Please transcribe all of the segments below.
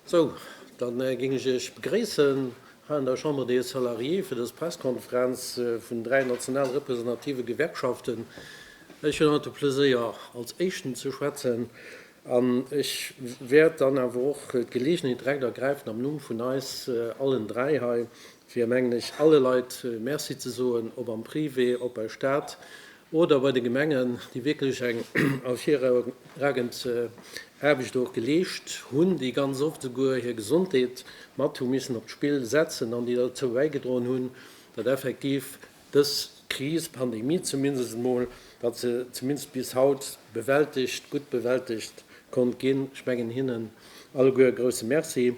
Sou, da géing ech Iech begréissen hei an der Chambre des Salariés fir dës Presskonferenz vun dräi national representative Gewerkschaften. Ech hunn haut de Pleséier, als éischten ze schwätzen, An ech wäert dann awer och d'Gelegenheet direkt ergräifen, am Numm vun eis allen dräi hei, fir, mengen ech, alle Leit Merci ze soen, ob am Privé, ob bei Stat oder bei de Gemengen, déi wierklech eng ervirragend Aarbecht och geleescht hunn, déi ganz oft esouguer hir Gesondheet mat hu missen op d'Spill setzen an déi derzou bäigedroen hunn, datt effektiv dës Kris, Pandemie zumindest emol, datt se zumindest bis haut bewältegt, gutt bewältegt konnt ginn. Ech mengen hinnen alleguer e grousse Merci.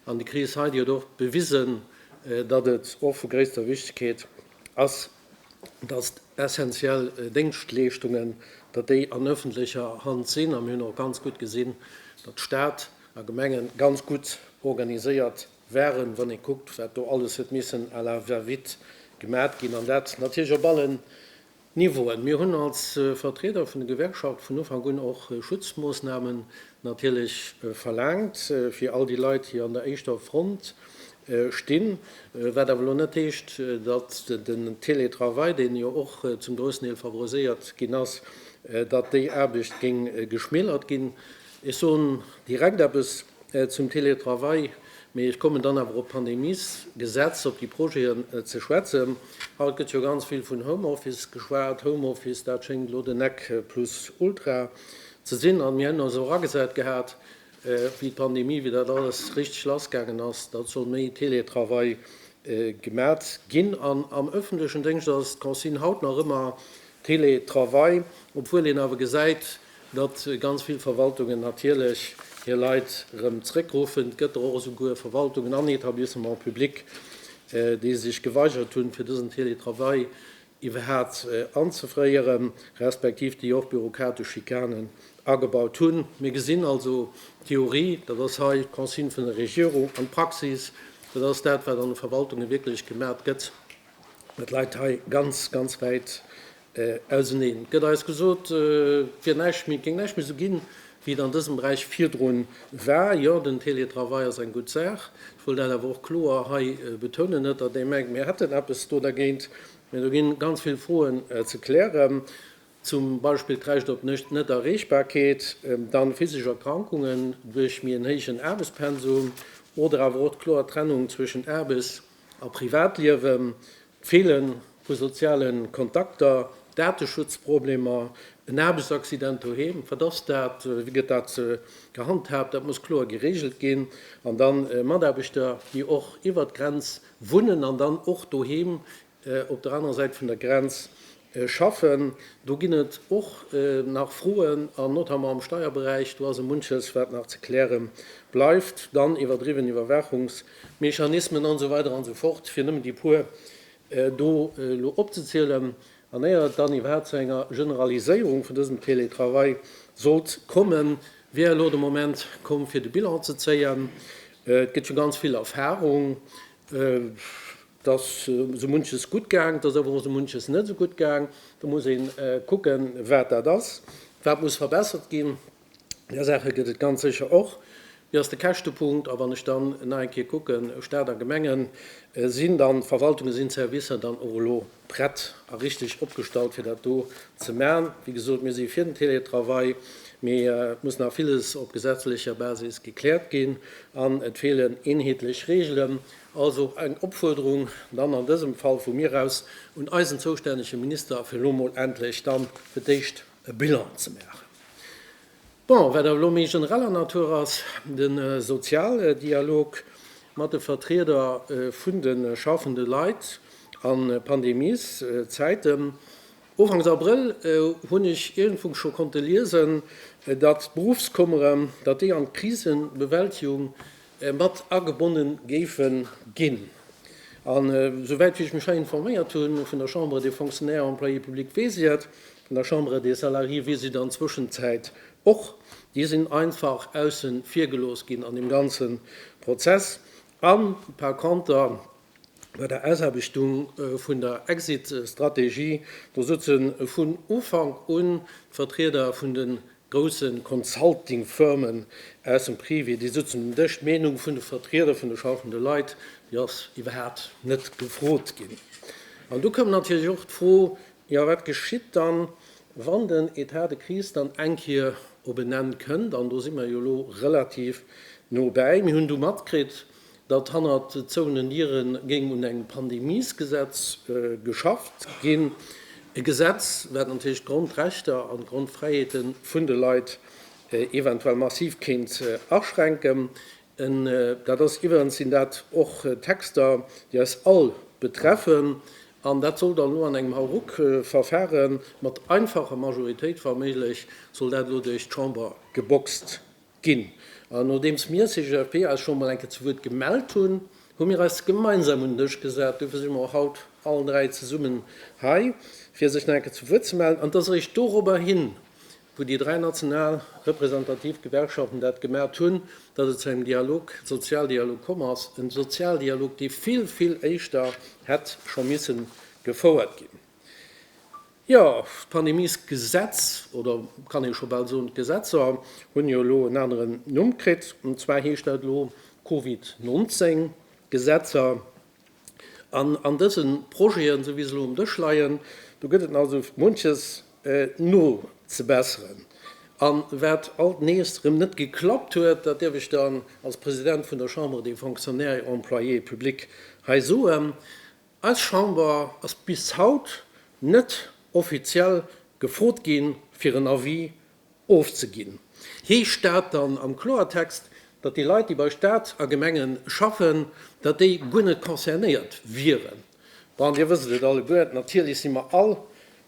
An déi Kris hei, déi huet och bewisen, datt et och vu gréisster Wichtigkeet ass, datt essentiell Déngschtleeschtungen, datt déi an öffentlecher Hand sinn. A mir hunn och ganz gutt gesinn, datt Stat a Gemenge ganz gutt organiséiert waren, wann ee kuckt, wat do alles huet missen à la va-vite gemat ginn, an dat natierlech op allen Niveauen. Mir hunn als Vertrieder vun de Gewerkschaft vun Ufank un och Schutzmoossnamen natierlech verlaangt fir all déi Leit, déi an der éischter Front stinn, wat awer elo net heescht, datt den Télétravail, deen jo och zum groussen Deel favoriséiert ginn ass, datt déi Aarbecht géing geschmälert ginn. Ech soen direkt eppes zum Télétravail, mee ech kommen dann awer op d'Pandemiesgesetz, op déi Projeten ze schwätzen. Haut gëtt jo ganz vill vun Homeoffice geschwat. Homeoffice, dat schéngt elo den Nec plus ultra ze sinn. A mir hätten eis och agesat gehat, wéi d'Pandemie, wéi dat alles richteg lassgaangen ass, datt soll méi Télétravail gemat ginn. An am öffentlechen Déngscht ass d'Consigne haut nach ëmmer Télétravail, obwuel een awer gesäit, Datt ganz vill Verwaltungen natierlech hir Leit erëm zréckruffen. Et gëtt der och esouguer Verwaltungen an Etablissements publics, déi sech geweigert hunn, fir dësen Teletravail iwwerhaapt anzeféieren, respektiv déi och bürokratesch Schikanen agebaut hunn. Mir gesinn also, d'Theorie, dat ass hei d'Consigne vun der Regierung, an d'Praxis, dat ass dat, wat an de Verwaltunge wierklech gemaacht gëtt, dat läit hei ganz, ganz wäit Auseneen. Et gëtt eis gesot, et wier näischt méi, et géing näischt méi esou ginn, wéi et an dësem Beräich virdrun war. Jo, den Télétravail ass eng gutt Saach. Ech wëll dat awer och kloer hei betounen. Net, datt ee mengt, mir hätten eppes do dergéint. Mä do ginn ganz vill Froen ze klären, zum Beispill d'Recht op Net-Erreechbarkeet, dann physesch Erkrankungen duerch méi en héijen Aarbechtspensum oder awer och d'kloer Trennung zwëschen Aarbechts a Privatliewe feele vu soziale Kontakter, Dateschutzproblemer, en Aarbechtsaccident doheem, wat ass dat, wéi gëtt dat gehandhaabt, dat muss kloer gereegelt ginn, an da Mataarbechter, déi och iwwert d'Grenz wunnen an dann och doheem op der anerer Säit vun der Grenz Schaffen. Do ginn et och nach Froen, an notamment am Steierberäich, do ass e munches, wat nach ze kläre bleift. Dann iwwerdriwwen Iwwerwaachungsmechanismen an esou weider an esou fort, fir nëmmen déi puer do elo opzezielen. An éier et dann iwwerhaapt zu enger Generaliséierung vun dësem Teletravail sollt kommen, wier elo de Moment komm, fir de Bilan ze zéien. Et gëtt jo ganz vill Erfahrung. 't ass esou munches gutt gaang, 't ass awer och esou munches net esou gutt gaang. Do muss ee kucken, wat dat ass, wat muss verbessert ginn. Där Saache gëtt et ganz sécher och. Wéi ass de Käschtepunkt? A wann ech dann nach eng Kéier kucken, Stat a Gemengen, Sinn dann d'Verwaltungen, sinn d'Servicer dann och elo prett a richteg opgestallt, fir dat do ze maachen? Wéi gesot, mir si fir den Télétravail, mee et muss nach villes op gesetzlecher Basis gekläert ginn an et feelen eenheetlech Regeln. Also eng Opfuerderung dann an dësem Fall vu mir aus un eisen zoustännege Minister, fir elo emol endlech dann fir d'éischt e Bilan ze maachen. Bon, wat awer elo méi genereller Natur ass, de Sozialdialog mat de Vertrieder vun de schaffende Leit a Pandemieszäiten. Ufanks Abrëll hunn ech iergendwou scho konnte liesen, datt d'Beruffskummeren, datt déi an d'Krisebewältigung mat agebonne géife ginn. An esouwäit wéi ech mech hei informéiert hu vun der Chambre des Fonctionnaires et Employés publics, weess ech et, vun der Chambre des Salariés weess ech et an der Zwëschenzäit och, déi sinn einfach ausse vir gelooss ginn an deem ganze Prozess. A par conter bei der Ausaarbechtung vun der Exit-Strategie, do souze vun Ufank un d'Vertrieder vun den grousse Consulting-Firmen aus dem Privé, déi sëtzen um Dësch, d'Meenung vun de Vertrieder vun de schafende Leit, déi ass iwwerhaapt net gefrot ginn. An du koum natierlech och d'Fro, jo wat geschitt dann, wann den Etat de crise dann eng Kier op en Enn kënnt? An do si mer jo elo relativ no bäi. Mir hunn du matkritt, datt hannert zouenen Diere géing un engem Pandemiesgesetz geschafft ginn, e Gesetz, wat natierlech d'Grondrechter an d'Grondfräiheete vun de Leit eventuell massiv kéint aschränken. Dat ass iwwerens, sinn dat och Texter, déi eis all betreffen, an dat soll dann elo an engem Hauruckverfare mat einfacher Majoritéit, wa méiglech, soll dat elo duerch d'Chamber geboxt. Ginn. An nodeems mir, CGFP, eis scho emol eng Kéier zu Wuert gemellt hunn, hu mir eis gemeinsam un den Dësch gesat. Dofir si mer och haut all dräi zesummen hei, fir sech nach eng Kéier zu Wuert ze mellen. An et ass eréischt dorobber hin, wou déi dräi national representativ Gewerkschaften dat gemat hunn, datt et zu engem Dialog, Sozialdialog komm ass. E Sozialdialog, dee vill, vill éischter hätt scho misse gefouert ginn. Jo, d'Pandemiesgesetz, oder kann ee scho bal soen, d'Gesetzer hunn jo elo en aneren Numm kritt. An zwar heescht dat elo Covid 19 Gesetzer. An an dëse Projeten, esou wéi se elo um Dësch leien, do gëtt et also munches nozebesseren. A wat alt nees erëm net geklappt huet, dat dierf ech dann als President vun der Chambre des Fonctionnaires et Employés publics hei soen, Eis Chamber ass bis haut net offiziell gefrot ginn, fir en Avis ofzeginn. Heescht dat dann am Kloertext, datt déi Leit, déi bei Staat a Gemenge schaffen, datt déi guer net concernéiert wieren? Bon, Dir wësst et alleguer, natierlech si mer all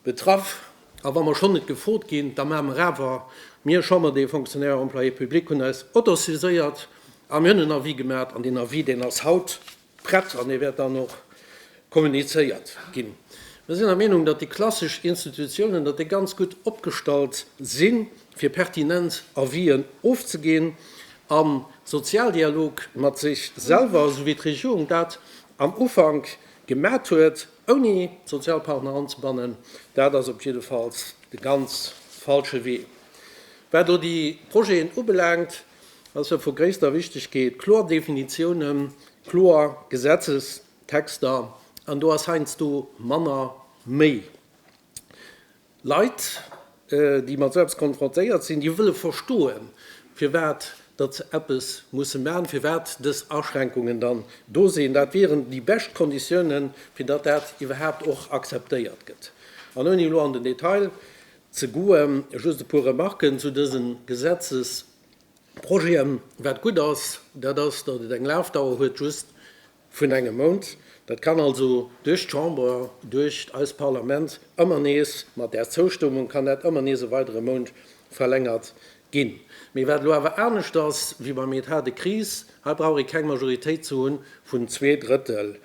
betraff. A wa mer schonn net gefrot ginn, da maache mer awer. Mir, Chambre des Fonctionnaires et Employés publics, hunn eis autosaiséiert a mir hunn en Avis gemat. An deen Avis, deen ass haut. Prett an e wäert dann och kommunizéiert ginn. Mir sinn der Meenung, datt déi klassesch Institutiounen, datt déi ganz gutt opgestallt si fir pertinent Avisen ofzeginn a Sozialdialog mat sech selwer, esou wéi d'Regierung dat am Ufank gemat huet, ouni d'Sozialpartner anzebannen. Dat ass op jiddefalls de ganz falsche Wee. Wat elo déi Projeten ubelaangt, Et ass jo vu gréisster Wichtigkeet, kloer Definitiounen, kloer Gesetzestexter, an do ass heiansdo manner méi. Leit, déi mat esou eppes konfrontéiert sinn, déi wëlle verstoen, firwat datt se eppes musse maachen, firwat dës Aschränkungen dann do sinn. Dat wieren déi bescht Konditiounen, fir datt dat iwwerhaapt och akzeptéiert gëtt. An ouni elo an den Detail Ze goe. Just e puer Remarquen zu dësen Gesetzesprojeten. Wat gutt ass, dat ass, datt et eng Lafdauer huet just vun engem Mount. Dat kann also duerch d'Chamber, duerch eist Parlament ëmmer nees, mat Är Zoustëmmung kann dat ëmmer nees e weidere Mount verlängert Ginn. Mee wat elo awer anescht ass wéi beim Etat de crise, hei brauch ee keng Majoritéit ze hunn vun zwee Drëttel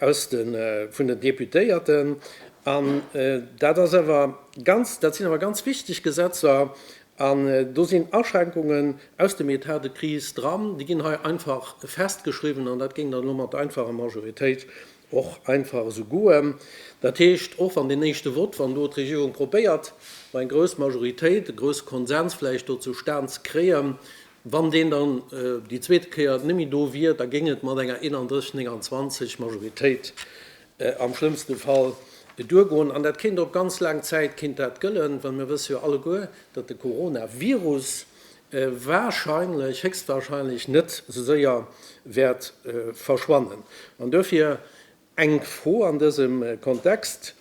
aus de vun den Deputéierten. An dat ass awer ganz, dat sinn awer ganz wichteg Gesetzer an do sinn Aschränkungen aus dem Etat de crise dran, déi ginn hei einfach festgeschriwwen an dat géing dann elo mat einfacher Majoritéit Och einfach esou goen. Dat heescht, och wann deen éischte Vott, wann do d'Regierung probéiert, do eng grouss Majoritéit, e grousse Konsens vläicht do zu stan ze kréien, wann deen dann déi zweet Kéier net méi do wier, da géing et mat enger 31, 29 Majoritéit am schlëmmste Fall duergoen. An dat kéint op ganz laang Zäit kéint dat gëllen, well mir wësse jo alleguer, datt de Coronavirus, warscheinlech, héchstwarscheinlech net sou séier wäert verschwannen. An duerfir eng Fro an dësem Kontext,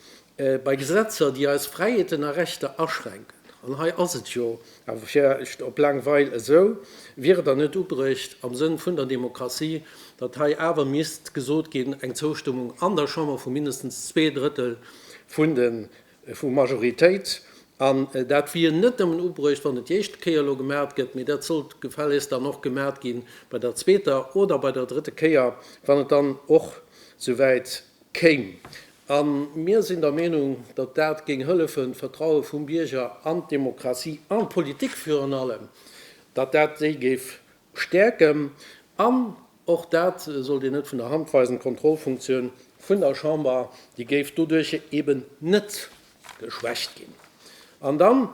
Bei Gesetzer, déi eis Fräiheeten a Rechter aschränken, an hei ass et jo awer vläicht op laang Weil esou, wier et dann net ubruecht am Sënn vun der Demokratie, datt hei awer misst gesot ginn, eng Zoustëmmung an der Chamber vu mindestens zwee Drëttel vun de vu Majoritéit. An dat wier net nëmmen ubruecht, wann et déi éischte Kéier elo gemaacht gëtt, mee dat sollt gefällegst dann och gemaacht gi bei der zweeter oder bei der drëtte Kéier, wann et dann och souwäit kéim. A mir sinn der Meenung, datt dat géing hëllefen, d'Vertraue vum Bierger an d'Demokratie an d'Politik virun allem, datt dat déi géif Stäerken, an och dat sollt een net vun der Hand weisen, d'Kontrollfunktioun vun der Chamber, déi géif doduerch eben net geschwächt ginn. An dann,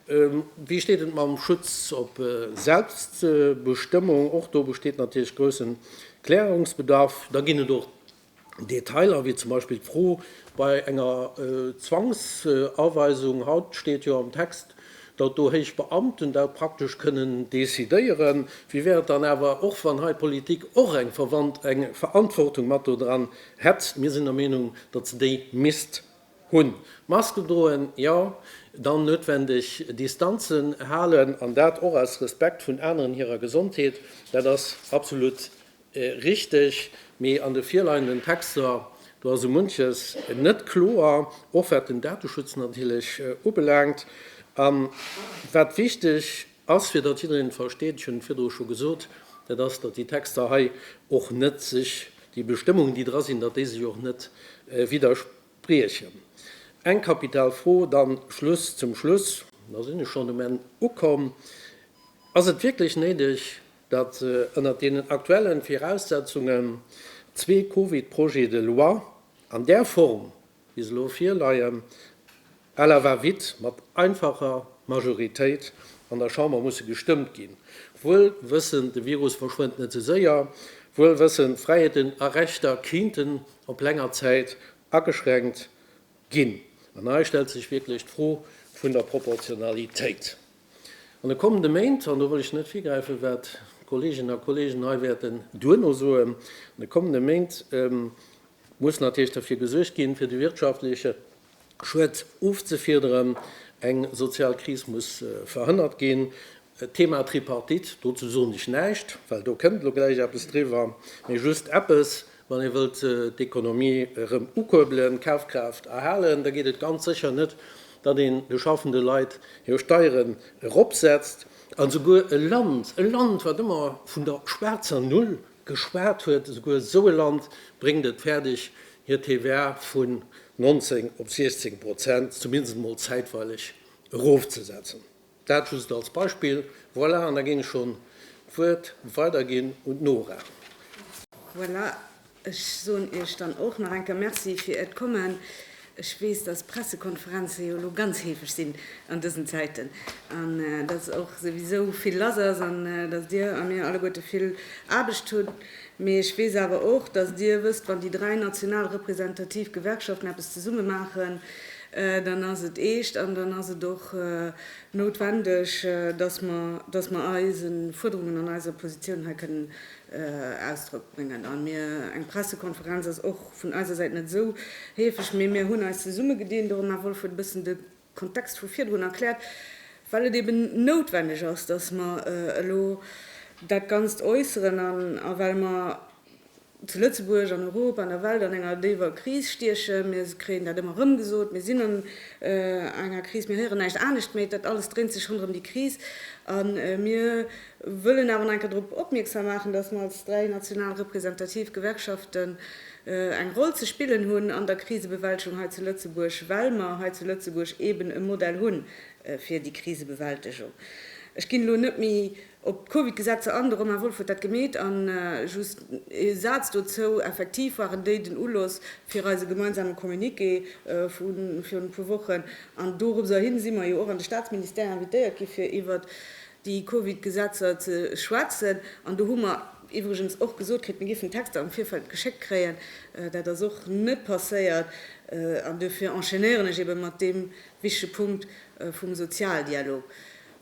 wéi steet et mam Schutz op Selbstbestëmmung? Och do besteet natierlech groussen Klärungsbedarf. Da ginn et och Detailer, wéi zum Beispill d'Fro bei enger Zwangsaweisung, haut steet jo am Text, datt do héich Beamten dat praktesch kënnen decidéieren, wéi wär et dann awer och, wann hei d'Politik och eng Verantwortung mat do dran hätt? Mir sinn der Meenung, datt se déi misst hunn. Masken droen, jo, dann noutwendeg Distanzen halen, an dat och aus Respekt vun aneren hirer Gesondheet, dat ass absolut Richteg, mee an de virleienden Texter, do ass esou munches net kloer, och wat den Dateschutz natierlech ubelaangt. A wat wichteg ass, fir datt jiddereen et versteet, ech hunn et virdru scho gesot, dat ass, datt déi Texter hei och net sech, déi Bestëmmungen, déi dra sinn, datt déi sech och net widderspriechen. Eng kapital Fro dann zum Schluss, da sinn ech schonn um Enn ukomm, Ass et wierklech néideg, datt ënnert deenen aktuellen Viraussetzungen zwee Covid-Projets de loi an där Form, wéi se elo virleien, à la va-vite mat einfacher Majoritéit an der Chamber musse gestëmmt ginn, wuel wëssend, de Virus verschwënnt net sou séier, wuel wëssend, Fräiheeten a Rechter kéinten op länger Zäit ageschränkt ginn. An hei stellt sech wierklech d'Fro vun der Proportionalitéit. An de kommende Méint, an do wëll ech net virgräifen, wat d'Kolleeginnen a Kolleegen hei wäerten duerno soen, an de kommende Méint muss natierlech derfir gesuergt ginn, fir de wirtschaftleche Schued ofzefiederen. Eng sozial Kris muss verhënnert ginn. D'Thema Tripartite, dozou soen ech näischt, well do kënnt elo gläich eppes driwwer, mee just eppes, Wann ee wëllt d'Ekonomie erëm ukuerbelen, d'Kafkraaft erhalen, da geet et ganz sécher net, datt een de schaffende Leit hir Steieren eropsetzt. An esouguer e Land, e Land, wat ëmmer vun der schwaarzer Null geschwat huet, esouguer esou e Land bréngt et fäerdeg, hir TVA vun 19 op 16 Prozent zumindest emol zäitweileg erofzesetzen. Dat just als Beispill. Voilà, an da géing ech schonn d'Wuert weiderginn un d'Nora. Voilà, ech soen Iech dann och nach eng Kéier Merci fir Äert Kommen. Ech weess, dass Pressekonferenze jo elo ganz heefeg sinn an dësen Zäiten an dass och souwisou vill lass ass an dass Dir a mir alleguerte vill Aarbecht hunn. Mee ech weess awer och, dass Dir wësst, wann déi dräi national representativ Gewerkschaften eppes zesumme maachen, dann ass et eescht an dann ass et och noutwendeg, dass mer, dass mer eise Fuerderungen an eiser Positioun hei kënnen Ausdrock bréngen. A mir, eng Pressekonferenz ass och vun eiser Säit net esou heefeg, mee mir hunn eis zesummegedinn, de Romain Wolff huet e bëssen de Kontext vu virdrun erkläert, well et eeben noutwendeg ass, dass mer elo dat Ganzt äusseren a well mer zu Lëtzebuerg, an Europa, an der Welt an enger déiwer Kris stiechen. Mir kréien dat ëmmer erëm gesot, mir sinn an enger Kris, mir héieren näischt anescht méi, dat alles dréint sech ronderëm déi Kris. A mir wëllen awer nach eng Kéier drop opmierksam maachen, datt mer als dräi national representativ Gewerkschaften eng Roll ze spillen hunn an der Krisebewältegung hei zu Lëtzebuerg, well mer hei zu Lëtzebuerg eeben e Modell hu fir déi Krisebewältegung. Ech ginn elo net méi Op d'Covid-Gesetzer an, de Romain Wolff huet dat gemeet. A just ee Saz dozou, Effektiv waren déi den Uloss fir eise gemeinsame Communiqué vu virun e puer Wochen. An dorobser hin si mer jo och an de Staatsministère invitéiert gi fir iwwert déi Covid-Gesetzer ze schwätzen. An do hu mer iwwregens och gesot kritt, mir géifen d'Texter am Virfeld geschéckt kréien. Dat ass och net passéiert. An dofir enchaînéieren ech eebe mat deem wichtege Punkt vum Sozialdialog.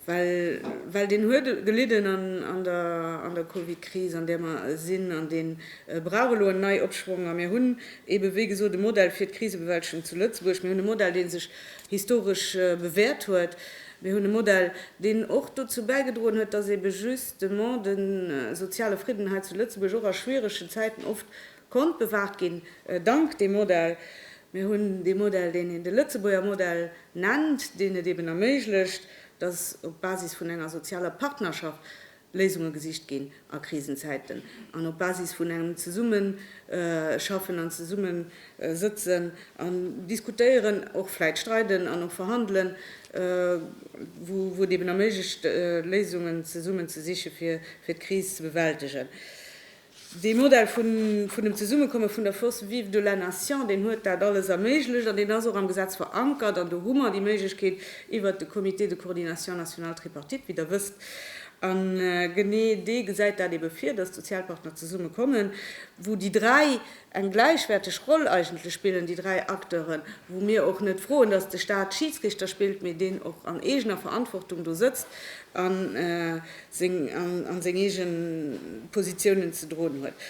Well deen huet gelidden an der Covid-Kris, an där mer sinn, an dee brauch elo en Neiopschwong. A mir hunn eeben, wéi gesot, e Modell fir d'Krisebewältigung zu Lëtzebuerg. Mir hunn e Modell, dee sech historesch bewäert huet. Mir hunn e Modell, deen och dozou bäigedroen huet, dass eebe justement de soziale Fridden hei zu Lëtzebuerg och a schwieregen Zäiten oft, Konnt bewahrt ginn dank dem Modell. Mir hunn dee Modell, deen een de Lëtzebuerger Modell nennt, deen et eben erméiglecht, dass op Basis vun enger sozialer Partnerschaft Léisunge gesicht ginn a Krisenzäiten an op Basis vun engem Zesummeschaffen an Zesummesëtzen an Diskutéieren, och vläit streiden an och verhandelen, wou et eben erméiglecht, Léisungen zesummen ze siche fir d'Kris ze bewältegen. Dee Modell vun vun dem Zesummekomme vun der Forces vives de la nation, deen huet dat alles erméiglecht an deen ass och am Gesetz verankert. An do hu mer déi Méiglechkeet iwwert de Comité de coordination national tripartite, wéi Der wësst. A genee dee gesäit dat eebe vir, datt d'Sozialpartner zesummekommen, wou déi dräi, eng gläichwäerteg Roll eigentlech spillen, déi dräi Acteuren, wou mir och net froen, dass de Stat Schiidsrichter spillt, mee deen och an eegener Verantwortung do sëtzt a seng eege Positiounen ze droen huet.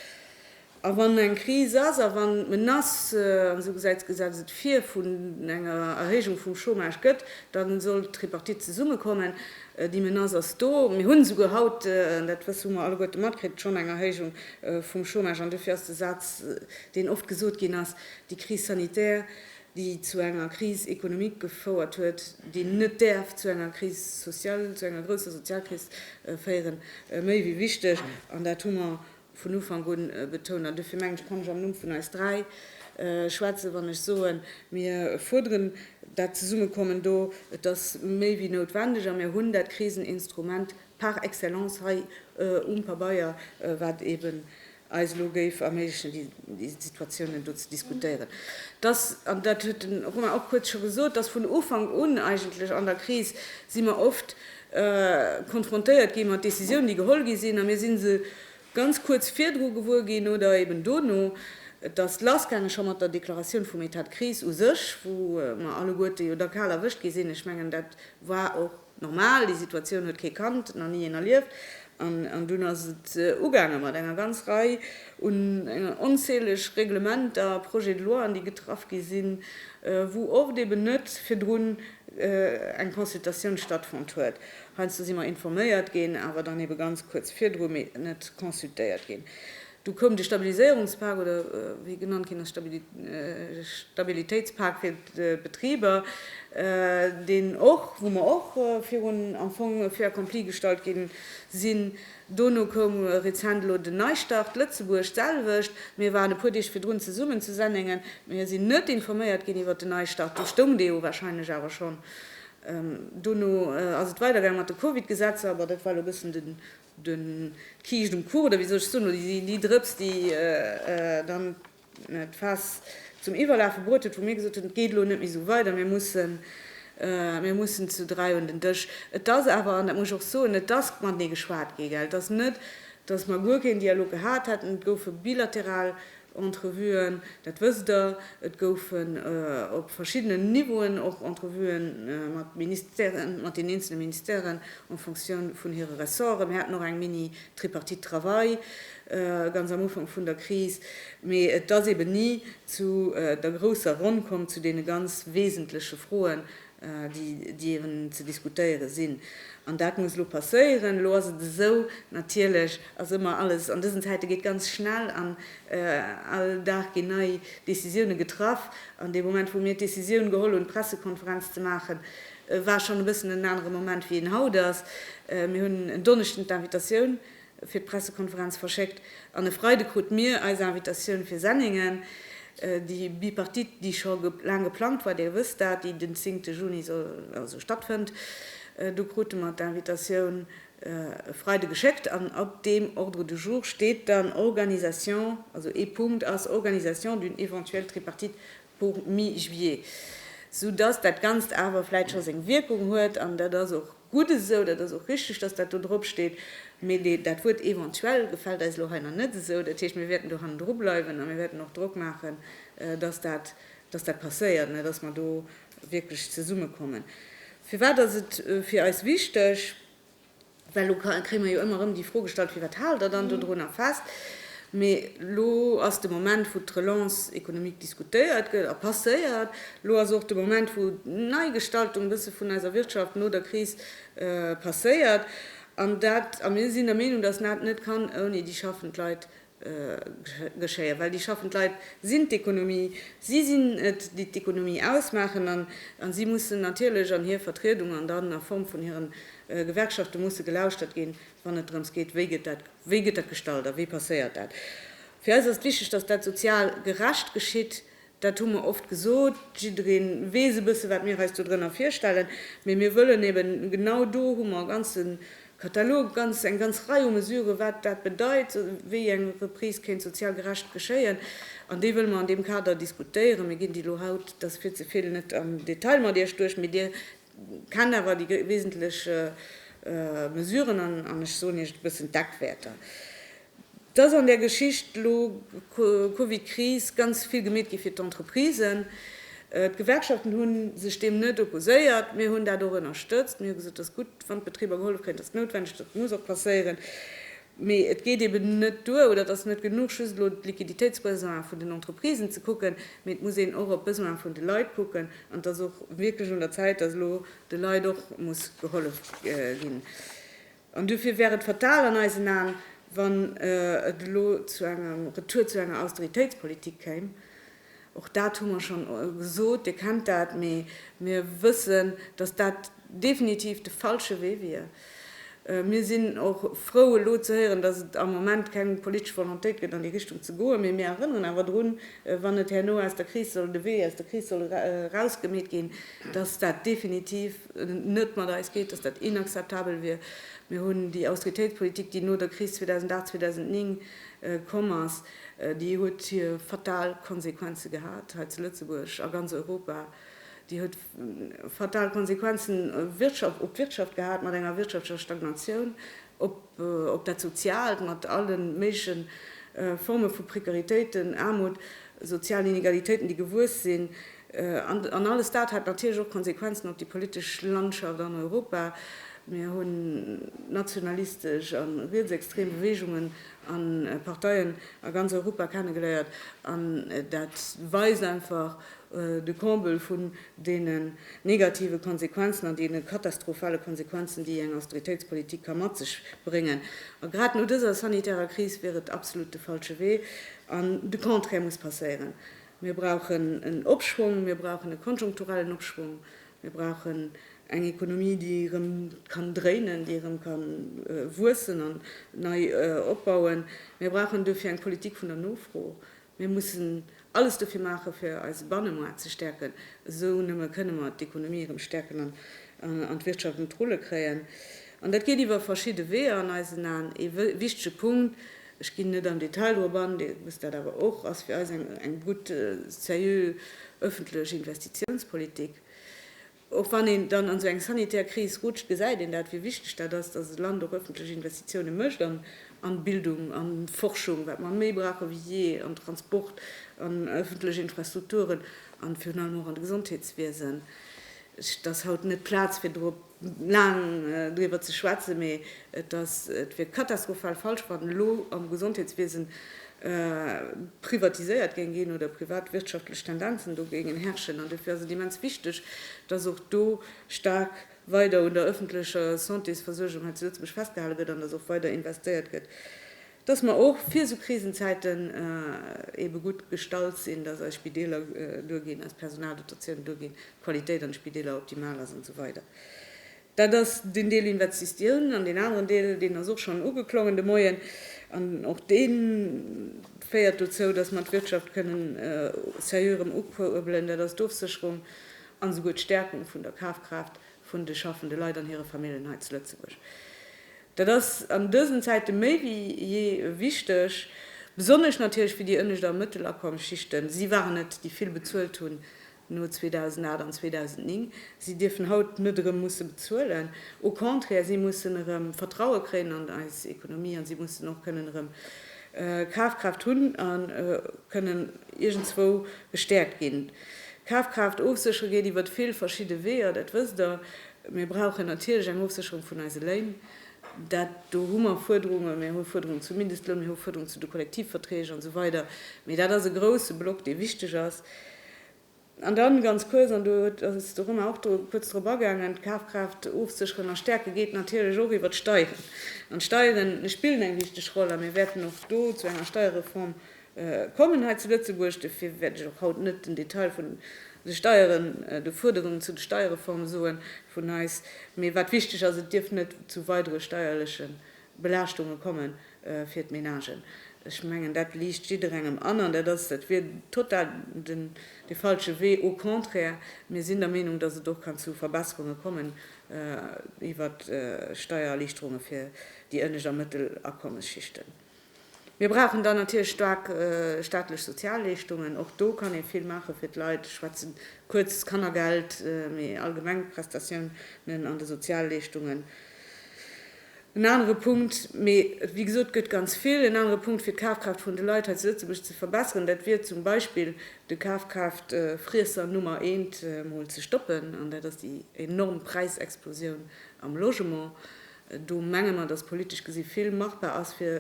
A wann eng Kris ass a wann d'Menace, an esou gesäit d'Gesetz et vir, vun enger Erhéijung vum Chômage gëtt, da soll d'Tripartite zesummekommen. Déi Menace ass do. Mir hunn esouguer haut, dat wësse hu mer alleguerte matkritt, schonn eng Erhéijung vum Chômage. An dofir ass de Saz, deen oft gesot ginn ass, déi Crise sanitaire, déi zu enger Crise économique gefouert huet, déi net däerf zu enger Crise sociale, zu enger grousser Sozialkris féieren, méi wéi wichteg. An dat hu mer Vun Ufank un betount, an dofir mengen ech, kann ech am Numm vun eis dräi schwätzen, wann ech soen, mir fuerderen dat Zesummekommen do, et ass méi wéi noutwendeg a mir hunn dat Kriseninstrument par excellence hei um Pabeier, wat eben eis elo géif erméiglechen, déi Situatiounen do ze diskutéieren. Et ass, an dat huet den Romain och kuerz scho gesot, et ass vun Ufank un eigentlech an der Kris, si mer oft konfrontéiert gi mat Décisiounen, déi geholl gi sinn, a mir si se ganz kuerz virdru gewuer ginn oder eben dono. Et ass lassgaange scho mat der Deklaratioun vum Etat de crise u sech, wou mer alleguerte jo da kal erwëscht gi sinn. Ech mengen, dat war och normal, déi Situatioun huet kee kannt, nach ni een erlieft. An dunn ass et ugaange mat enger ganz Rei un, enger onzähleg Reglementer, Projets de loien, déi getraff gi sinn, wou oft eben net virdrun eng Consultatioun stattfonnt huet, heiansdo si mer informéiert ginn, awer dann ebe ganz kuerz virdru mee net consultéiert ginn. Du koum de Stabiliséierungspak, oder wéi e genannt ginn ass, Stabilitéitspak fir d'Betriber, deen och, wou mer och virun am Fong fait accompli gestallt gi sinn, Dono koum rezent elo den Neistart Lëtzebuerg, d'selwecht. Mir waren e puer Deeg virdrun zesummen zu Sennéngen. Mir sinn net informéiert ginn iwwert den Neistart. Do stoung dee jo wahrscheinlech awer schonn. Dono ass et weidergaang mat de Covid-Gesetzer, awer dat war elo e bëssen den, den, d'Kiischt um Kuch, oder wéi soll ech soen, oder déi, déi Drëps, déi dann, d'Faass zum Iwwerlafe bruet huet, wou mir gesot hunn, et geet elo net méi esou weider, mir mussen, mir mussen zu dräi un den Dësch. Et ass awer, an dat muss ech och soen, et ass matenee geschwat gi, gell. Et ass net, dass mer guer keen Dialog gehat hätten. Et goufe bilateral Entrevuen, dat wësst Der, et goufen op verschiddenen Niveauen och Entrevue mat Ministèren, mat den eenzele Ministèren en fonction vun hire Ressorten. Mir haten och eng Mini, D'Tripartite Travail, ganz am Ufank vun der Kris. Mee et ass eben ni zu der grousser Ronn komm, zu deene ganz wesentleche Froen, déi eben ze diskutéiere sinn. An dat muss elo passéieren. Elo ass et esou, natierlech ass ëmmer alles an dësen Zäite geet ganz schnell an all Dag ginn nei Décisioune getraff. An dee Moment, wou mir d'Décisioun geholl hunn, d'Pressekonferenz ze maachen, Et war schonn e bëssen en anere Moment, wéi en haut ass. Mir hunn en Donneschden d'Invitatioun fir d'Pressekonferenz verschéckt an e Freide krute mir eis Invitatioun fir Senningen, déi Bipartite, déi scho laang geplangt war, Dir wësst dat, déi den zéngte Juni also stattfënnt. Do krute mer d'Invitatioun e Freide geschéckt an op deem Ordre du jour steet dann Organisation, also ee Punkt ass Organisation d'une éventuelle Tripartite vu Mi-Juillet, sou dass dat Ganzt awer vläit scho seng Wierkung huet. An dat ass och gutt esou, dat ass och richtig, dass dat do drop steet. Mee dee, dat Wuert eventuell gefält eis elo hei nach net esou. Dat heescht, mir wäerten do hannendru bleiwen a mir wäerten och Drock maachen, dass dat, dass dat passéiert, mä dass mer do wierklech zesummekommen. Firwat ass et fir eis wichteg? Well elo kréie mer jo ëmmer erëm déi Fro gestallt, firwat haalt Der dann dodrunner fest? Mee elo ass de Moment, wou d'Relance économique diskutéiert gëtt a passéiert. Elo ass och de Moment, wou d'Neigestaltung e bësse vun eiser Wirtschaft no der Kris passéiert. An dat, a mir sinn der Meenung, dass dat net kann ouni déi schaffend Leit geschéien, well déi schaffend Leit sinn d'Ekonomie, si sinn et, déi d'Ekonomie ausmaachen an si mussen natierlech an hir Vertriedung an dann a Form vun hiren Gewerkschaften musse gelauschtert ginn, wann et drëms geet, wéi gëtt dat, wéi gëtt dat gestalt a wéi passéiert dat. Fir eis ass et wichteg, dass dat sozial gerecht geschitt, Dat hu mer oft gesot. Jidderee weess e bësse wat mir eis dodrënner virstellen. Mee mir wëllen eeben, genau do hu mer e ganze Katalog, ganz, eng ganz Rei u Mesuren, wat dat bedeit, wéi eng Reprise kéint sozial gerecht geschéien. An déi wëlle mer an deem Kader diskutéieren. Mir ginn déi elo haut, dat ass fir ze vill, net am Detail mat Iech duerch. Mee Dir Kennt awer déi wesentlech Mesuren an, ech soen Iech et, e bëssen d'Eckwäerter. Et ass an där Geschicht elo Covid-Kris ganz vill gemeet gi fir d'Entreprisen. D'Gewerkschaften hu sech deem net opposéiert. Mir hunn dat och ënnerstëtzt. Mir hu gesot, et ass gutt, wann d'Betriber gehollef kréien. Et ass noutwendeg, dat muss och passéieren. Mee et geet eben net duer, oder et ass net genuch, just elo d'Liquiditéitsbesoinen vun den Entreprisen ze kucken, mee et muss een och op d'Besoinen vun de Leit kucken. An et ass och wierklech un der Zäit, dass elo de Leit och muss gehollef ginn. An duerfir wär et fatal an eisen Aen, wann et elo zu engem Retour zu enger Austeritéitspolitik kéim, Och dat hu mer schonn gesot, Dir kennt dat. Mee mir wëssen, datt dat definitiv de falsche Wee wier. Mir sinn och frou elo ze héieren, datt et am Moment keng politesch Volontéit gëtt an déi Richtung ze goen. Mee mir erënneren awer drun, wann et herno aus der Kris soll, de Wee aus der Kris soll erausgemeet ginn, datt dat definitiv net mat eis geet, datt dat inakzeptabel wier. Mir hunn déi Austeritéitspolitik, déi no der Kris 2008, 2009 komm ass, Déi huet hir fatal Konsequenze gehat hei zu Lëtzebuerg, a ganz Europa. Déi huet fatal Konsequenzen op d'Wirtschaft gehat mat enger wirtschaftlecher Stagnatioun, op dat Soziaalt mat alle méigleche Forme vu Prekaritéiten, Aarmut, sozialen Inegalitéiten, déi gewuess sinn. An alles dat hat natierlech och Konsequenzen op déi politesch Landschaft an Europa. Mir hunn nationalistesch a rietsextrem Beweegungen a Parteien a ganz Europa kennegeléiert an dat weist einfach de Comble vun deenen negative Konsequenzen an deene katastrophale Konsequenzen, déi eng Austeritéitspolitik ka mat sech bréngen. A grad no dëser sanitärer Kris wier et absolut de falsche Wee an de Contraire muss passéieren. Mir brauchen en Opschwong, mir brauchen e konjunkturellen Opschwong Mir brauchen eng Ekonomie, déi erëm kann dréinen, déi erëm ka wuessen an nei opbauen. Mir brauchen duerfir eng Politik vun der Nofro. Mir mussen alles dofir maachen, fir eise Bannemaart ze stäerken. Esou nëmme kënne mer d'Ekonomie erëm stäerken an d'Wirtschaft un d'Rulle kréien. An dat geet iwwer verschidde Weeër an eisen Aen. Ee wichtege Punkt. Ech ginn net am Detail drop an, Dir wësst dat awer och, ass fir eis eng gutt, sérieux öffentlech Investitionspolitik. Och wann een dann an esou eng sanitär Kris rutscht, gesäit een dat, wéi wichteg dat ass, dass e Land och öffentlech Investitiounen mécht an Bildung, an Forschung, wat mer méi brauche wéi jee, an Transport, an öffentlech Infrastrukturen, an virun allem och an de Gesondheetswiesen. Et ass haut net d'Plaz fir drop. laang driwwer ze schwätzen, mee et ass, et wier katastrophal falsch, wann elo am Gesondheetswiesen privatiséiert géing ginn oder privatwirtschaftlech Tendenzen do géingen herrschen. An dofir ass et immens wichteg, dass och do staark weider un der öffentlecher Santésversuergung hei zu Lëtzebuerg festgehale gëtt an dass och weider investéiert gëtt dass mer och fir esou Krisenzäiten eebe gutt gestallt sinn, dass eis Spideeler duerginn, eis Personaldotatiounen duerginn, d'Qualitéit an de Spideeler optimal ass an esou weider. Dat ass deen Deel Investitioun. An deen aneren Deel, deen ass och schonn ugeklongen de Moien, an och dee féiert dozou, dass mer d'Wirtschaft kënnen sérieux erëm ukuerbelen, dat ass d'Ofsécherung an esouguer d'Stärkung vun der Kafkraaft vun de schaffende Leit an hire Familljen hei zu Lëtzebuerg. Dat ass an dësen Zäite méi wéi jee wichteg, besonnesch natierlech fir déi ënnescht a Mëttelakommsschichten. Si waren et, déi vill bezuelt hunn no 2008 an 2009. Si dierfen haut net erëm musse bezuelen. Au contraire, si mussen erëm Vertraue kréien an eis Ekonomie a si mussen och kënnen erëm Kafkraaft hunn a kënnen iergendzwou gestäerkt ginn. D'Kafkraaft ofséchere geet iwwert vill verschidde Weeër, dat wësst Der. Mir brauchen natierlech eng Ofsécherung vun eise Léin. Dat do hu mer Fuerderungen. Mir hu Fuerderungen zum Mindestloun, mir hu Fuerderungen zu de Kollektivverträg an esou weider. Mee dat ass e grouse Block, dee wichteg ass. An dann ganz kuerz, an do ass de Romain och dru kuerz drop agaangen, d'Kafkraaft ofsécheren a stäerke geet natierlech och iwwert d'Steieren. An d'Steiere spillen eng wichteg Roll a mir wäerten och do zu enger Steierreform Kommen hei zu Lëtzebuerg, dofir wäert ech och haut net den Detail vun de Steieren, de Fuerderungen zu de Steiereforme soen vun eis, mee wat wichteg ass, et dierf net zu weidere steierleche Belaaschtunge komme fir d'Menagen. Ech mengen, dat liicht jidderengem an, an dat ass, dat wier total den, de falsche Wee. Au contraire, mir sinn der Meenung, dass et och kann zu Verbesserunge kommen iwwert Steiererliichterunge fir déi ënnescht a mëttel Akommesschichten. Mir brauchen dann natierlech staark staatlech Sozialleeschtungen. Och do kann ee vill maache fir d'Leit. Ech schwätze kuerz d'Kannergeld, mee allgemeng d'Prestatiounen an de Sozialleeschtungen. En anere Punkt, mee wéi gesot, et gëtt ganz vill, en anere Punkt fir d'Kafkraaft vun de Leit hei zu Lëtzebuerg ze verbessern, dat wier zum Beispill de Kafkraaftfriesser Nummer eent mol ze stoppen, an dat ass déi enorm Präisexplosioun am Logement. Do menge mer, dass politesch gesi vill machbar ass, fir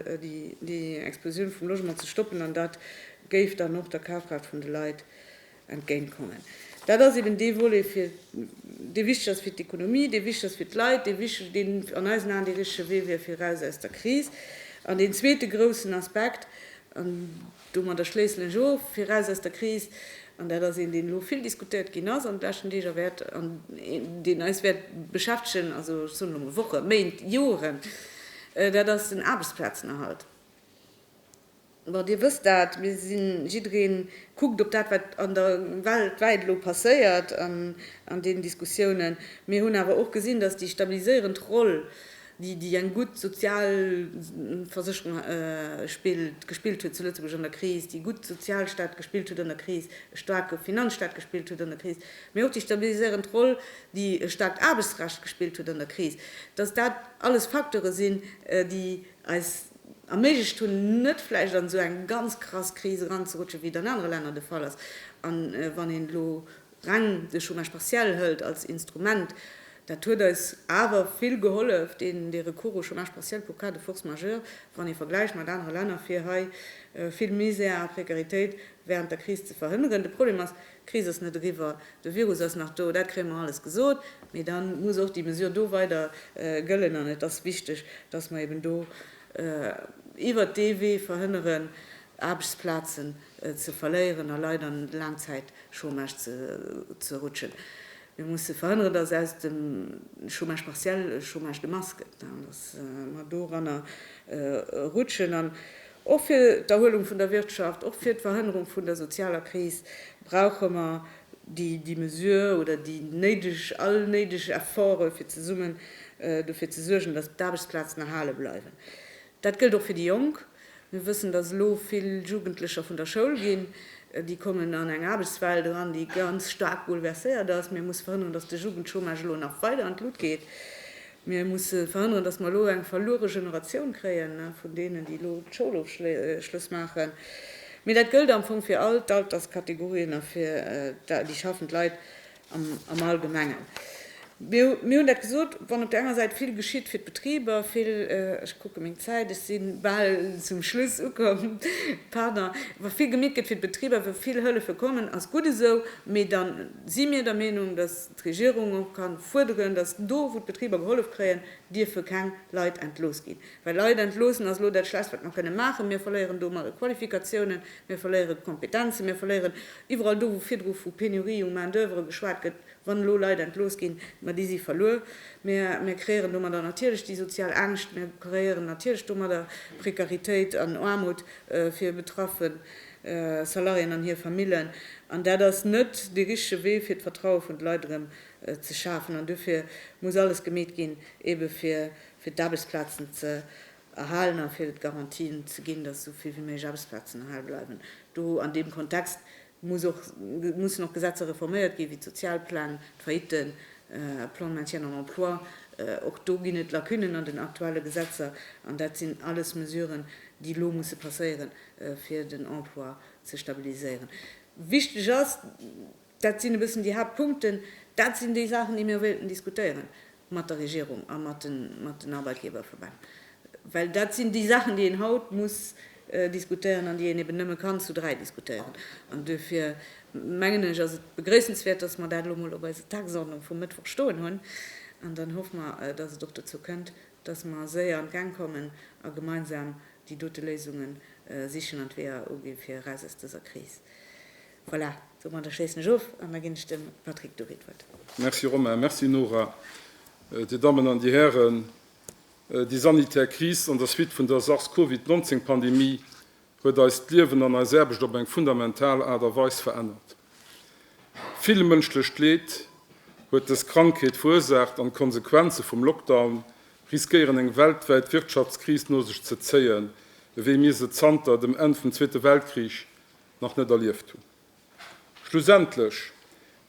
déi Explosioun vum Logement ze stoppen, an dat géif dann och der Kafkraaft vun de Leit entgéintkommen. Dat ass eben dee Volet, dee wichteg ass fir d'Ekonomie, dee wichteg ass fir d'Leit, dee wichteg, deen an eisen Aen dee richtege Wee wier fir eraus aus der Kris. An deen zweete groussen Aspekt, Domadder schléissen ech of, fir eraus aus der Kris, an dat ass een, deen elo vill diskutéiert ginn ass an de leschten Deeg a wäert, an deen eis wäert beschäftegen, also ech soen elo mol Wochen, Méint, Joren, dat ass den Aarbechtsplazenerhalt. Bon, Dir wësst dat, mir sinn, jidderee kuckt op dat, wat an der Welt wäit elo passéiert an deenen Diskussiounen. Mir hunn awer och gesinn, datt déi stabiliséierend Roll déi eng gutt sozial Versécherung gespillt huet zu Lëtzebuerg an der Kris, déi gutt Sozialstaat gespillt huet an der Kris, e staarke Finanzstaat gespillt huet an der Kris, mee och déi stabiliséierend Roll, déi e staarkt Aarbechtsrecht gespillt huet an der Kris, dass dat alles Facteure sinn, déi eis erméiglecht hunn, net vläicht an esou eng ganz krass Kris eranzerutschen, wéi et an anere Länner de Fall ass. A wann een elo reng de Chômage partiel hëlt als Instrument, dat huet eis awer vill gehollef, deen de Recours au chômage partiel pour cas de force majeure, wann ee vergläicht mat anere Länner, fir hei vill Misär a Prekaritéit während der Kris ze verhënneren. De Problem ass, d'Kris ass net eriwwer, de Virus ass nach do, dat kréie mer alles gesot, mee da muss och déi Mesure do weider gëllen an et ass wichteg, dass mer eben do iwwert dee Wee verhënneren, Aarbechtsplazen ze verléieren a Leit an Laangzäitchômage ze rutschen. Mir musse verhënneren, dass aus dem Chômage partiel e Chômage de masse gëtt an dass mer doranner rutschen. An och fir d'Erhuelung vun der Wirtschaft, och fir d'Verhënnerung vun der sozialer Kris brauche mer déi Mesure oder déi néideg, all néideg Efforte fir zesummen dofir ze suergen, dass d'Aarbechtsplazen erhale bleiwen. Dat gëllt och fir déi Jonk. Mir wëssen, dass elo vill Jugendlecher vun der Schoul ginn. Déi kommen an eng Aarbechtswelt eran, déi ganz staark bouleverséiert ass. Mir musse verhënneren, dass de Jugendchômage elo nach weider an d'Lut geet. Mir musse verhënneren, dass mer elo eng verluere Generatioun kréien vun deenen, déi elo d'Schoulofschlëss maachen. Mee dat gëllt am Fong fir all d'Alterskategorien a fir déi schaffend Leit. am Allgemengen. Mir hunn dat gesot, wann op där enger Säit vill geschitt fir d'Betriber, vill, ech kucke meng Zäit, ech si bal zum Schluss ukomm, pardon, wa vill gemiet gëtt fir d'Betriber, wa vill Hëllefe kommen, ass gutt esou, mee da si mir der Meenung, datt d'Regierung och ka fuerderen, datt do, wou d'Betriber gehollef kréien, dierfe keng Leit entlooss ginn, well Leit entloossen ass elo dat Schlechtst, wat mer kënne maachen. Mir verléieren domat Qualifikatiounen, Mir verléieren d'Kompetenzen, mir verléieren iwwerall do, wou virdru vu Pénurie u Main d'oeuvre geschwat gëtt, wann elo Leit entlooss ginn, ma déi si verluer. Mir, mir kreéieren domadder natierlech déi sozial Angscht, mir kreéieren natierlech domadder Prekaritéit an Aarmut fir betraffe Salariéen an hir Famillen. An dat ass net dee richtege Wee fir d'Vertraue vun de Leit erëm ze schafen. An duerfir muss alles gemeet ginn, ebe fir, fir d'Aarbechtsplazen ze Erhalen a fir d'Garantien ze ginn, datt esou vill wéi méiglech Aarbechtsplazen erhale bleiwen. Do, an deem Kontext, muss och, mussen och Gesetzer reforméiert ginn, wéi d'Sozialpläng, d'Failliten, Plan de maintien en emploi. Och do ginn et Lacunen an den aktuelle Gesetzer. An dat sinn alles Mesuren, déi elo musse passéieren, fir den Emploi ze stabiliséieren. Wichteg ass, Dat sinn e bëssen déi Haaptpunkten. Dat sinn déi Saachen, déi mir wéilten diskutéiere mat der Regierung a mat den Arbeitgeberverbänn, well dat sinn déi Saachen, déi een haut muss diskutéieren an déi een eben nëmme kann zu dräi diskutéieren. An duerfir, mengen ech, ass et begréissenswäert, dass mer dat elo mol op eiser Tagesordnung vum Mëttwoch stoen hunn. An dann hoffe mer, dass et och dozou kënnt, dass mer séier an d'Gäng kommen a gemeinsam déi dote Léisunge sichen an d'Weeër ugi fir eraus aus dëser Kris. Voilà, domadder schléissen ech of an da ginn ech dem Patrick Dury d'Wuert. Merci Romain, merci Nora. Dir Dammen an Dir Hären, déi sanitär Kris an der Suite vun der Sars-Covid 19 Pandemie huet eist Liewen an eis Aarbecht op eng fundamental Aart a Weis verännert. Vill mënschlecht Leed huet dës Krankheet verursaacht an d'Konsequenze vum Lockdown riskéieren eng weltwäit Wirtschaftskris no sech ze zéien, ewéi mir se zanter dem Enn vum Zweete Weltkrich nach net erlieft hunn. Schlussendlech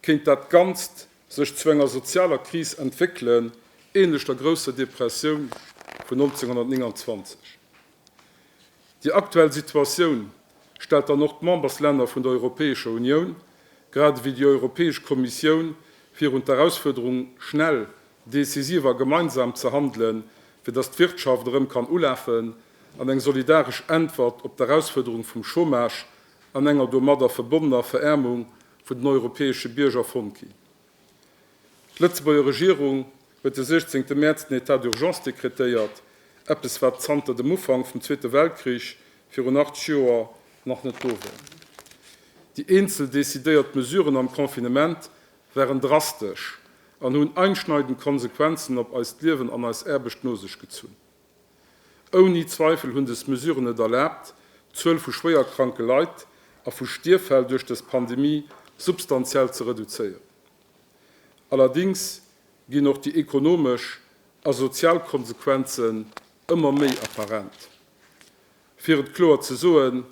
kéint dat Ganzt sech zu enger sozialer Kris entwéckelen, ähnlech der grousser Depressioun vun 1929. Déi aktuell Situatioun stellt dann och d'Memberslänner vun der Europäescher Unioun, grad ewéi déi Europäesch Kommissioun, virun d'Erausfuerderung, schnell decisiv a gemeinsam ze handelen, fir datt d'Wirtschaft erëm kann ulafen an eng solidaresch Äntwert op d'Erausfuerderung vum Chômage an enger domadder verbonnener Veräermung vun den europäesche Bierger fonnt ginn. D'Lëtzebuerger Regierung huet de 16 Mäerz den Etat d'urgence dekretéiert, eppes wat zanter dem Ufank vum Zweete Weltkrich, virun 80 Joer, nach net do war. Déi eenzel decidéiert Mesuren am Confinement waren drastesch an hunn einschneidend Konsequenzen op eist Liewen an eis Aarbecht no sech gezunn. Ouni Zweifel hunn dës Mesuren et erlaabt, d'Zuel vu schwéierkranke Leit a vu Stierffäll duerch dës Pandemie substantiell ze reduzéieren. Allerdéngs ginn och déi ekonomesch a sozial Konsequenzen ëmmer méi apparent. Fir et kloer ze soen,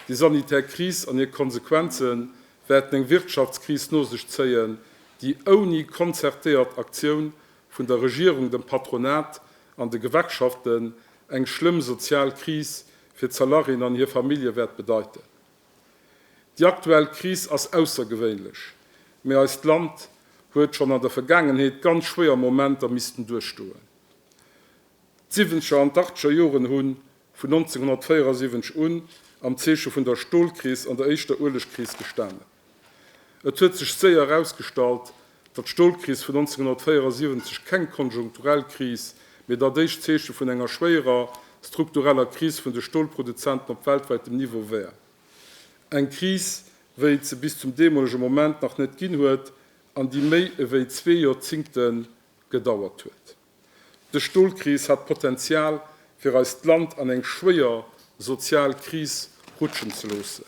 Déi sanitär Kris an hir Konsequenze wäerten eng Wirtschaftskris no sech zéien, déi ouni konzertéiert Aktioun vun der Regierung, dem Patronat an de Gewerkschaften eng schlëmm sozial Kris fir d'Salariéen an hir Famillje wäert bedeiten. Déi aktuell Kris ass aussergewéinlech, mee eist Land huet schonn an der Vergaangenheet ganz schwéier Momenter missten duerchstoen. D'Siwwenzeger an d'Achteger Joren hunn vun 1974 un am Zeeche vun der Stolkris an der éischter Uelegkris gestanen. Et huet sech séier erausgestallt, datt d'Stolkris vun 1974 keng konjunkturell Kris, mee dat éischt Zeeche vun enger schwéierer struktureller Kris vun de Stolproduzenten op weltwäitem Niveau wär. Eng Kris, wéi et se bis zum deemolege Moment nach net ginn huet an déi méi ewéi zwee Joerzingte gedauert huet. De Stolkris hat d'Potenzial fir eist Land an eng schwéier sozial Kris rutschen ze loossen.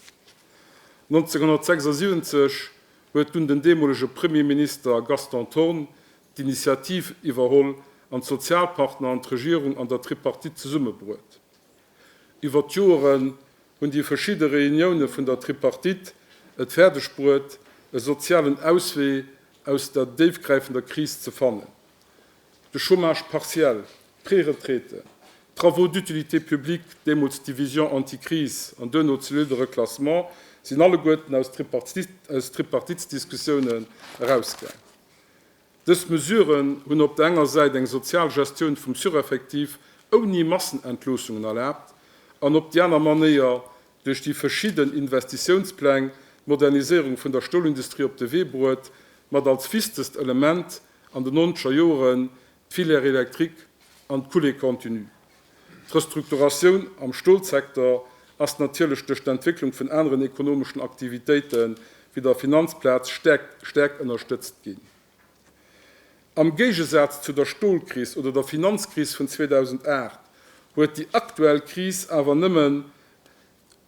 1976 huet dunn den deemolege Premierminister Gaston Thorn d'Initiativ iwwerholl an d'Sozialpartner an d'Regierung an der Tripartite zesummebruet. Iwwer d'Joeren hunn déi verschidde Reunioune vun der Tripartite et fäerdegbruet e sozialen Auswee aus der déifgräifender Kris ze fannen. de Chômage partiel, d'Préretraite, d'Travaux d'utilité publique, deemools d'Division anti-crise an duerno ze Lille de reclassement, sinn alleguerten aus Tripartitsdiskussiounen erausgaang. Dës Mesuren hunn op der enger Säit eng sozial Gestioun vum Sureffectif ouni Massenentloossungen erlaabt an op déi aner Manéier duerch déi verschidden Investitiounspläng d'Moderniséierung vun der Stolindustrie op de Wee bruet, mat als wichtegst Element an de nonzeger Joeren d'Filière électrique an d'Coulée continue. D'Restrukturatioun am Stolsektor ass natierlech duerch d'Entwécklung vun aneren ekonomeschen Aktivitéite wéi der Finanzplaz staark ënnerstëtzt ginn. Am Géigesaz zu der Stolkris oder der Finanzkris vun 2008 huet déi aktuell Kris awer nëmmen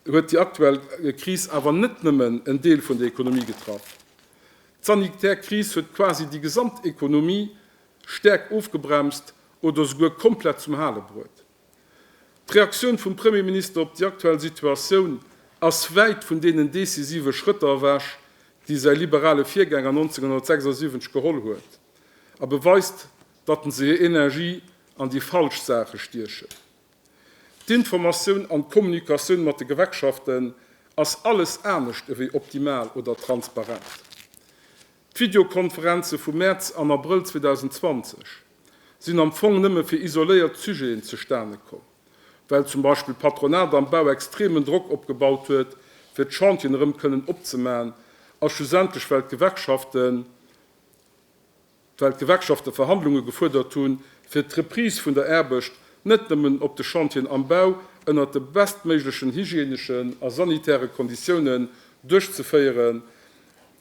huet déi aktuell Kris awer net nëmmen en Deel vun der Ekonomie getraff. D'sanitär Kris huet quasi déi gesamt Ekonomie staark ofgebremst oder souguer komplett zum Hale bruet. D'Reaktioun vum Premierminister op déi aktuell Situatioun ass wäit vun deenen decisive Schrëtter ewech, déi säi liberale Virgänger 1976 geholl huet, a beweist, datt en se hir Energie an déi falsch Saache stiechen. D'Informatioun an d'Kommunikatioun mat de Gewerkschaften ass alles anescht ewéi optimal oder transparent. D'Videokonferenze vum Mäerz an Abrëll 2020 sinn am Fong nëmme fir isoléiert Sujeten zustane komm, well zum Beispill d'Patronat am Bau extremen Drock opgebaut huet, fir d'Chantien erëm kënnen opzemaen, a schlussendlech well d'Gewerkschaften, well d'Gewerkschafte Verhandlunge gefuerdert hu fir d'Reprise vun der Aarbecht net nëmmen op de Chantieren am Bau ënnert de bestméiglechen hygieneschen a sanitäre Konditiounen duerchzeféieren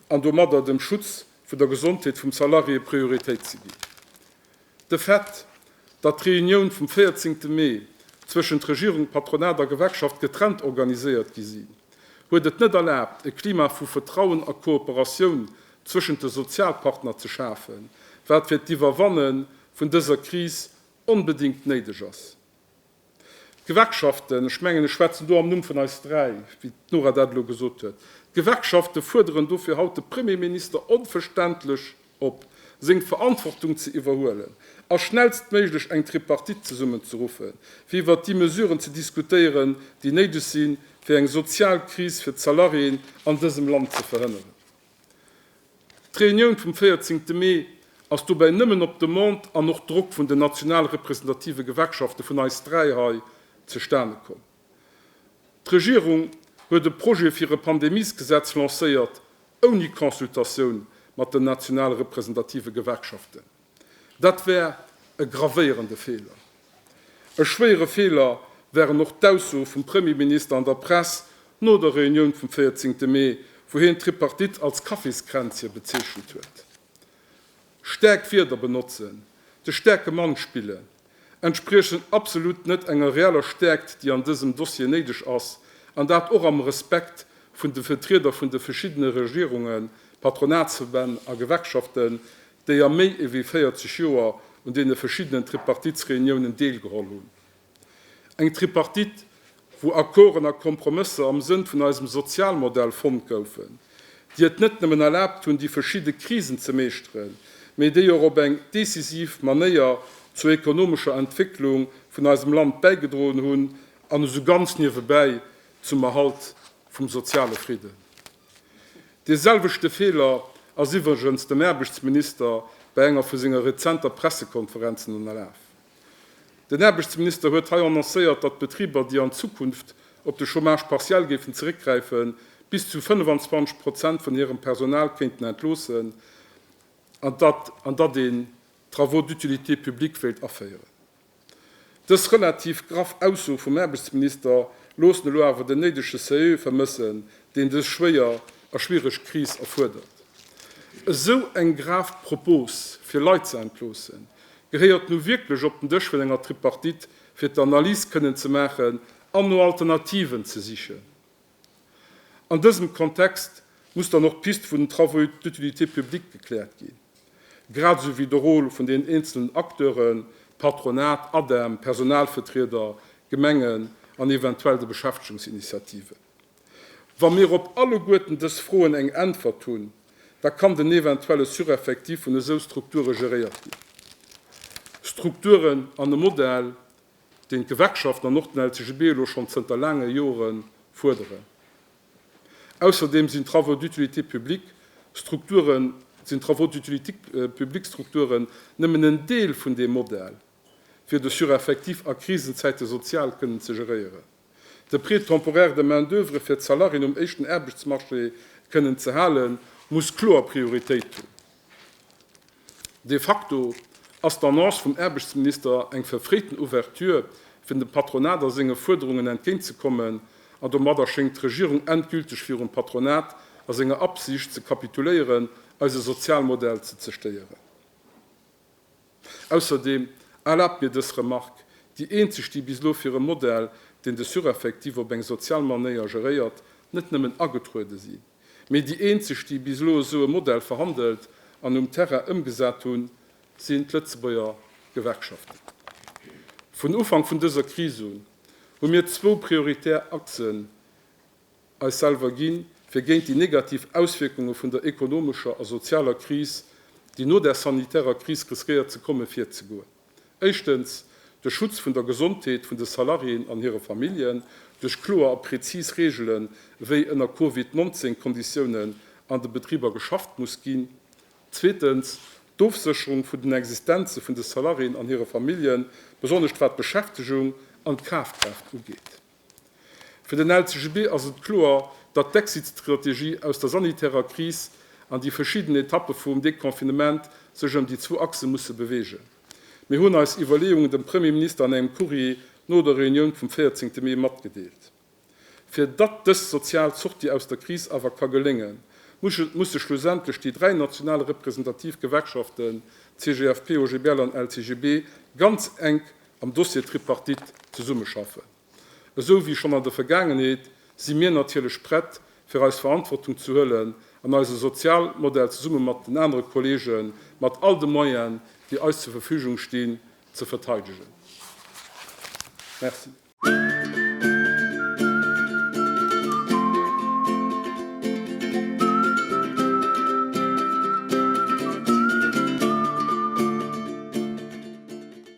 an domadder dem Schutz vun der Gesondheet vum Salarié Prioritéit ze ginn. De Fait, datt d'Reunioun vum 14 Mee zwëschent Regierung, Patronat a Gewerkschaft getrennt organiséiert gi sinn, huet et net erlaabt, e Klima vu Vertrauen a Kooperatioun zwëschent de Sozialpartner ze schafen, wat fir d'Iwwerwanne vun dëser Kris onbedéngt néideg ass. D'Gewerkschaften, ech mengen, ech schwätzen do am Numm vun eis dräi, wéi d'Nora dat elo gesot huet, d'Gewerkschafte fuerderen dofir haut de Premierminister onverständlech op, seng Verantwortung ze iwwerhuelen a schnellstméiglech eng Tripartite zesummenzerruffen, fir iwwert déi Mesuren ze diskutéieren, déi néideg sinn, fir eng sozial Kris fir d'Salariéen an dësem Land ze verhënneren. D'Reunioun vum 14 te Mee ass dobäi nëmmen op Demande an och Drock vun den national representative Gewerkschafte vun eis dräi hei zustane komm. D'Regierung huet e Projet fir e Pandemiesgesetz lancéiert, ouni Consultatioun mat den national representative Gewerkschaften. Dat wär e gravéierende Feeler. E schwéiere Feeler wären och d'Aussoe vum Premierminister an der Press no der Reunioun vum 14 Mee, wou hien d'Tripartite als Kaffiskränzche bezeechent huet. Staark Wierder benotzen, de staarke Mann spillen, entspriechen absolut net enger reeller Stäerkt, déi an dësem Dossier néideg ass, an dat och am Respekt vun de Vetrieder vun de veschiddene Regierungen, Patronatsverbänn a Gewerkschaften, déi a méi ewéi 40 Joer un deene veschiddenen Tripartitsreuniounen deelgeholl hunn. Eng Tripartite, wou Accorden a Kompromësser am Sënn vun eisem Sozialmodell fonnt goufen, déi et net nëmmen erlaabt hunn, déi verschidde Krisen ze meeschteren, mee déi och op eng decisiv Manéier zur ekonomescher Entwécklung vun eisem Land bäigedroen hunn an esou ganz niewebäi zum Erhalt vum soziale Fridden. Dee selwechte Feeler ass iwwregens dem Aarbechtsminister bei enger vu senger rezenter Pressekonferenzen ënnerlaf. Den Aarbechtsminister huet hei annoncéiert, datt d'Betriber, déi an Zukunft op de Chômage partiel géifen zeréckgräifen, bis zu 25 Prozent vun hirem Personal kéinten entloossen an datt an datt een d'Travaux d'utilité publique wéilt aféieren. Dës relativ graff Ausso vum Aarbechtsminister loossen elo awer den néidege Sérieux vermëssen, deen dës schwéier a schwiereg Kris erfuerdert. Esou eng grav Propos, fir Leit ze entloossen, Gehéiert nu wierklech op den Dësch vun enger Tripartite, fir d'Analys kënnen ze maachen an no Alternativen ze sichen. An dësem Kontext muss dann och d'Pist vun den Travaux d'utilité publique gekläert ginn, grad esou wéi de Rôle vun den eenzelnen Acteuren, Patronat, ADEM, Personalvetrieder, Gemengen an eventuell de Beschäftegungsinitiativen. Wa mir op alleguerten dës Froen eng Äntwert hunn, da kann den eventuelle Sureffectif vun esou Strukture geréiert ginn. Strukturen an e Modell, deen d'Gewerkschaften an och den LCGB elo schonn zënter laange Jore fuerderen. Ausserdeem sinn d'Travaux d'utilité publique Strukturen, sinn d'Travaux d'utilité publique Strukturen nëmmen en Deel vun deem Modell, fir de Sureffectif a Krisenzäite sozial kënnen ze geréieren. De Prêt temporaire de main d'oeuvre fir d'Salarien um éischten Aarbechtsmarché kënnen ze hale muss kloer Prioritéit hunn. De facto ass d'Annonce vum Aarbechtsminister eng verfréiten Ouverture, fir dem Patronat a senge Fuerderungen entgéint ze kommen, an domadder schéngt d'Regierung endgülteg virum Patronat a senger Absicht ze kapituléieren, eise Sozialmodell ze zerstéieren. Ausserdeem erlaabt mir dës Remark, déi eenzeg, déi bis elo fir e Modell, deen de Sureffectif op eng sozial Manéier geréiert, net nëmmen agetruede si mee déi eenzeg, déi bis elo esou e Modell verhandelt an um Terrain ëmgesat hunn, sinn d'Lëtzebuerger Gewerkschaften. Vun Ufank vun dëser Kris un hu mir zwou prioritär Achsen, eis selwer ginn, fir géint déi negativ Auswierkunge vun der ekonomescher a sozialer Kris, déi no der sanitärer Kris riskéiert ze kommen, virzegoen. Éischtens, de Schutz vun der Gesondheet vun de Salariéen an hire Familljen duerch kloer a präzis Reegelen, wéi ënner Covid 19 Konditiounen an de Betriber geschafft muss ginn. Zweetens, d'Ofsécherung vun den Existenze vun de Salariéen an hire Familljen, besonnesch wat d'Beschäftegung an d'Kafkraaft ugeet. Fir den LCGB ass et kloer, datt d'Exit-Strategie aus der sanitärer Kris an déi verschidden Etappe vum Deconfinement sech ëm déi zwou Achse musse beweegen. Mir hunn eis Iwwerleeungen dem Premier Minister an engem Courrier no der Reunioun vum 14 Mee matgedeelt. Fir datt dës sozial Sortie aus der Kris awer ka geléngen, musse schlussendlech déi dräi national representativ Gewerkschaften, CGFP, OGBL an LCGB, ganz enk am Dossier Tripartite zesummeschaffen. Esou wéi schonn an der Vergaangenheet si mir natierlech prett, fir eis Verantwortung ze huelen an eise Sozialmodell zesumme mat den anere Kollegen mat all de Moyen, déi eis zur Verfügung stinn, ze verteidegen. Merci.